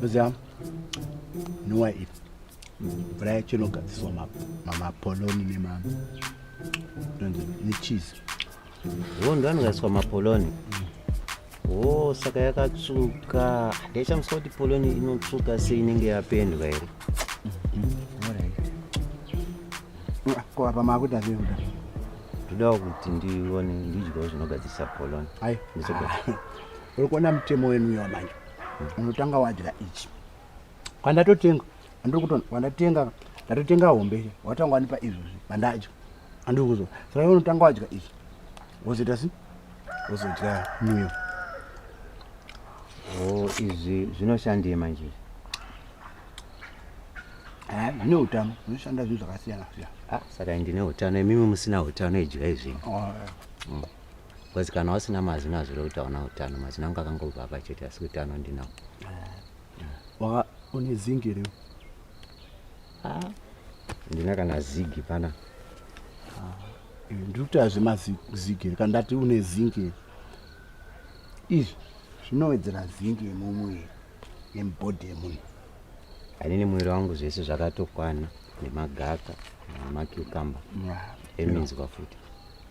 Zam, nuwa iri mvura yacho inogadziriswa mamapoloni nema necheese wo ndo anogadziriswa mapoloni wo saka yakatsvuka ndaichamuswa kuti poloni inotsvuka se inenge yapendwa here ko apa maakuita zvekuda ndodawo kuti ndione ndidyawo zvinogadzirisa poloni aiaa uri kuona mutemo wenu uyo manje unotanga wadya ichi kwandatotenga andiri kuto kwandatenga ndatotenga hombe watanga wanipa izvozvi mandadya andiri kuzo saka iwe unotanga wadya ichi wozoita si wozodya muyo o izvi zvinoshandei manje Eh, zvine utano zvinoshanda zvinhu zvakasiyana siyana Ah, saka ndine utano imimi musina utano idyai zvinhu Oh, eh. Because kana wasina mazino hazvire kuti hauna utano. Mazino angu akangobva apa chete asi utano ndinawo. Waka une zingi here? Ah, ndina kana zigi pana. Eh, Ndiri kuti hazvima zi- zigi here kana ndati une zingi here? Izvi zvinowedzera zingi yemumuviri yemubhodhi yemunhu. Anini mwiri wangu zvese zvakatokwana nemagaka nemacucumber Yeah. eminzwa futi.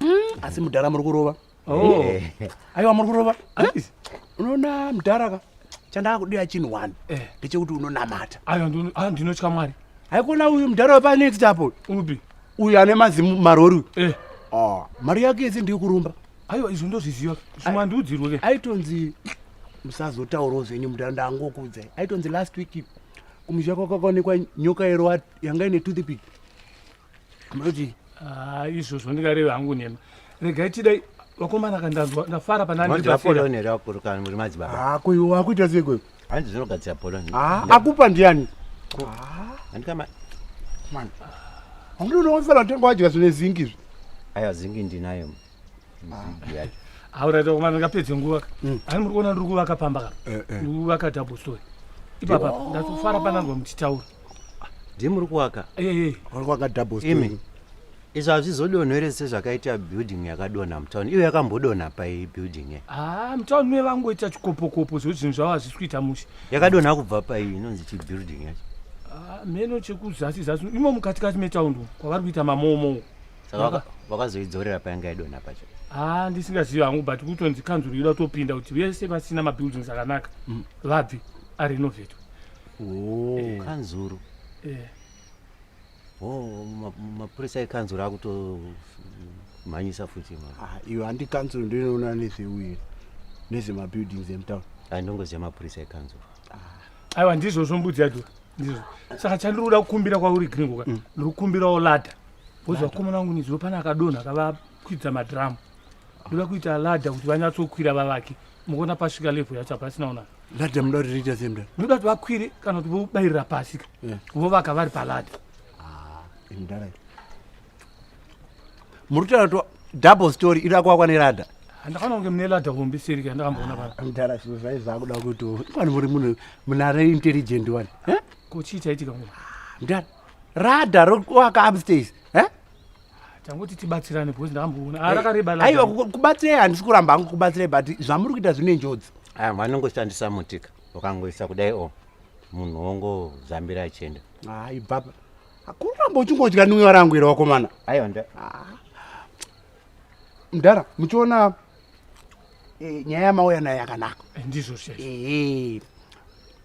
mm, asi mudhara muri kurova oh. eh. aiwa muri kurova eh? unoona mudhara ka chandakudira chinhu one eh. ndechekuti unonamata ah, ndinotya mwari haikona uyu mudhara wepanext apo upi uyu ane mazimu marori uyu ah, mari yake yese ndiri kurumba aiwa izvo ndozviziva zvimandiudzirwe ke aitonzi musazotaurawo zvenyu mudhara ndangokuudzai aitonzi last week kumusha kwakakaonekwa nyoka yero yanga ine toothpick Mati. Ah, izvo zvandikareva hangu nema. Regai tidai vakomana kandanzwa ndafara panani. Mati apolone rakuruka muri madzibaba. Ah, ko iwe wakuita sei ko? Hanzi zvinogadzira apolone. Ah, akupa ndiani? Ah. Andikama. Man. Hangu unoona kuti vatengwa wadya zvine zingi izvi. Aya zingi ndinayo. nzigi yacho auraita kumana ndingapedze nguva ka mm. ani muri kuona ndiri kuvaka pamba ka eh, eh. ndiri kuvaka double story ipapa ndatofara pananzwa muchitaura ndi muri kuvaka eh, uri kuvaka double story izvi hazvizodonho here sezvakaita building yakadonha mutown iyo yakambodonha pai building ye haa ah, mutown mue vangoita chikopokopo zvo zvinhu zvavo hazvisi kuita mushe yakadonha kubva pai inonzi chibuilding yacho ah, meno chekuzasi zasi imo mukatikati metaundi kwavari kuita mamoomou saka vakazoidzorera payanga yaidonha pacho haa ah, ndisingazivi hangu but kutonzi kanzuru yoda kutopinda kuti vese vasina mabuildings akanaka mm. vabve arinovetwe oh, eh. kanzuru eh. oh, mapurisa ekanzuru akutomhanyisa futi ah, iwe handi kanzuru ndinoona nezveuye nezvemabuildings emutown andongoziva mapurisa ekanzuru aiwa ndizvozvo mbudzi yadhura ndizvo saka chandiri kuda kukumbira kwauri gringoka mm. ndiri kukumbirawo ladha Bozi vakomana vangu nezuro pane akadonha akavakwidza madhiramu. Ndoda kuita ladha kuti vanyatsokwira vavake. Mukuona pasvika levhu yacho hapasina unaka. Ladha muda kuti riita sei mudhara? Ndoda kuti vakwire kana kuti vobayirira pasi ka. Yeah. Vovaka vari paladha. Ah, mudhara. Muri kutaura kuti double story iri akuwakwa neladha? handakana kunge mune ladha hombe seri ka ndakamboona pana. Mudhara zvinhu zvai zvakuda kuti wani muri munhu munare intelligent wani. Eh? Ko chii chaitika munhu? Mudhara. Rada rokuwaka upstairs. Eh? Tanguti tibatsirane because ndakamboona. Ah, rakareba la. Aiwa kubatsira handisi kuramba hangu kubatsira but zvamuri kuita zvine njodzi. Ah, vanongoshandisa mutika. Ukangoisa kudai o. Oh, munhu wongo zambira achienda. Hayi baba. Hakuramba uchingodya nwiwa rangu iro wakomana. Aiwa nda. Ah. mdara muchiona e, nyaya yamauya nayo yakanaka eh, ndizvo e,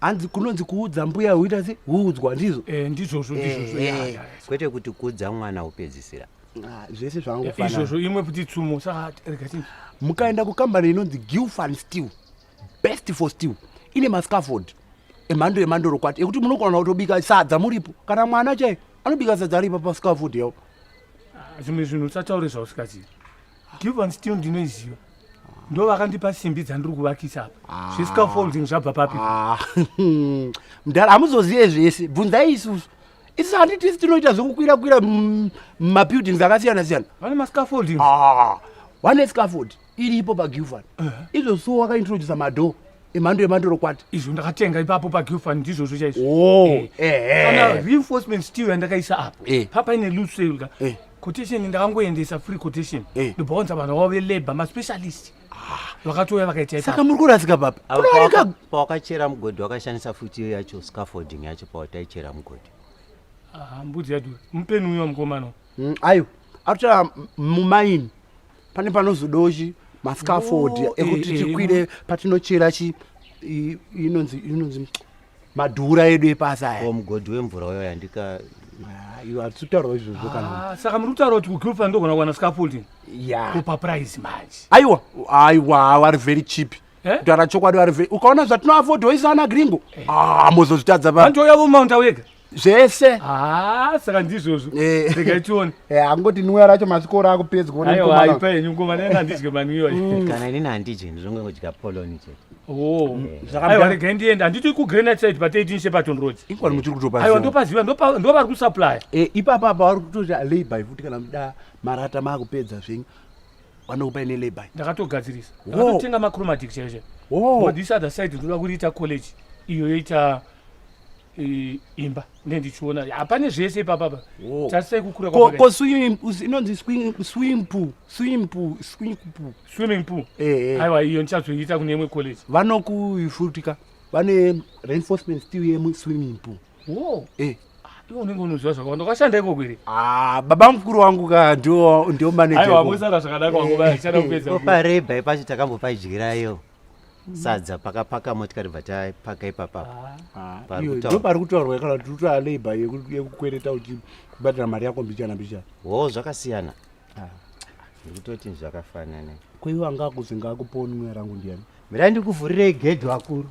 hanzi kunonzi kuudza mbuya huita se huudzwa ndizvo e, ndizvozvo ndizvozvo e, kwete kuti kuudza mwana upedzisira ah, zvese zvangu izvozvo imwe kuti tsumo saka rega mukaenda kukambani inonzi gilfan steel best for still ine mascaford emhando yemandoro kwati ekuti munogona kutobika sadza muripo kana mwana chai anobika sadza aripa pascaford yavo ah, zvimwe zvinhu usataure zvausikazii given still ndinoiziva ndo vakandipa simbi dzandiri kuvakisa apa ah. zvescafolding zvabva papi ah. mdara hamuzozive zvese bvunzai isusu isi handitisi tinoita zvekukwira kwira mabuildings akasiyana siyana vane mascafolding one scafolding iripo pagilfan izvo so wakaintrodusa madhoo emhando yemandorokwati izvo ndakatenga ipapo pagilfan ndizvozvo chaizvo oh, eh. Eh, kana eh. reinforcement steel yandakaisa apo papa ine loose sale ka quotation ndakangoendesa free quotation ndobvaonza vanhu vavo velabor maspecialist ah. vakatouya vakaitaisaka muri kurasika papapawakachera mugodhi wakashandisa futi iyo yacho scaffolding yacho pawataichera mugodhi ah, mbudzi yadura mupeni uyo mukomana mm, ayo atochera mumaini pane panozodawo chi mascaford oh, ekuti eh, eh, tikwire eh. patinochera chi inonzi inonzi madhura edu epasi aya oh, mugodhi wemvura uyo yandika ah, iwe hatisi kutaurawo izvozvo kana ah, saka muri kutaura kuti kugufa ndogona kuwana scaffolding ya kupa price manje aiwa aiwa wari very cheap kutaura chokwadi wari very ukaona zvatinoafodhoisa ana gringo amozozvitadza ah, vanhu touyavo mount awega zvese ah, saka ndizvozvo eh. rega tione eh, angoti nuya racho masvikoro akupedzwa aiwaipa henyu ngoma nene handidye manuyo mm. kana inini handidye ndizvongongodya poloni chete oh. eh. aiwa rega ndienda handiti kugranite side pateiti nshe patonroad ikwani muchiri kutopa aiwa ndopaziva ndovari kusuplya ipapa apa vari kutoti alaby futi kana muda marata maakupedza zvenyu vanokupa ine laby ndakatogadzirisa ndakatotenga macromatic chaizvo this other side ndoda kuriita college iyo yoita e, imba ne ndichiona hapane zvese ipapapa tarisai kukura ko, ko inonzi swim pool swim pool swim pool swimming pool eh, eh. aiwa iyo ndichazoiita kune imwe college vanokuifutika vane reinforcement still yemu swimming pool wo eh iwe unenge unoziva zvakawanda ukashanda ikoko here ah, baba mukuru wangu ka ndio ndio manager aiwa mosara zvakadaka wangu vaya chada kupedza opareba ipacho takambopaidyirai yo sadza pakapaka motikari bva tapaka ipapa pari kutaurwa kana kuti utoa labor yekukwereta uchibhadhara mari yako mbichana mbichana wo zvakasiyana ah. ndikutoti zvakafanana kweiwa ngakuzi ngakuponwe rangu ndiyani mirai ndikuvhurirei gedhi vakuru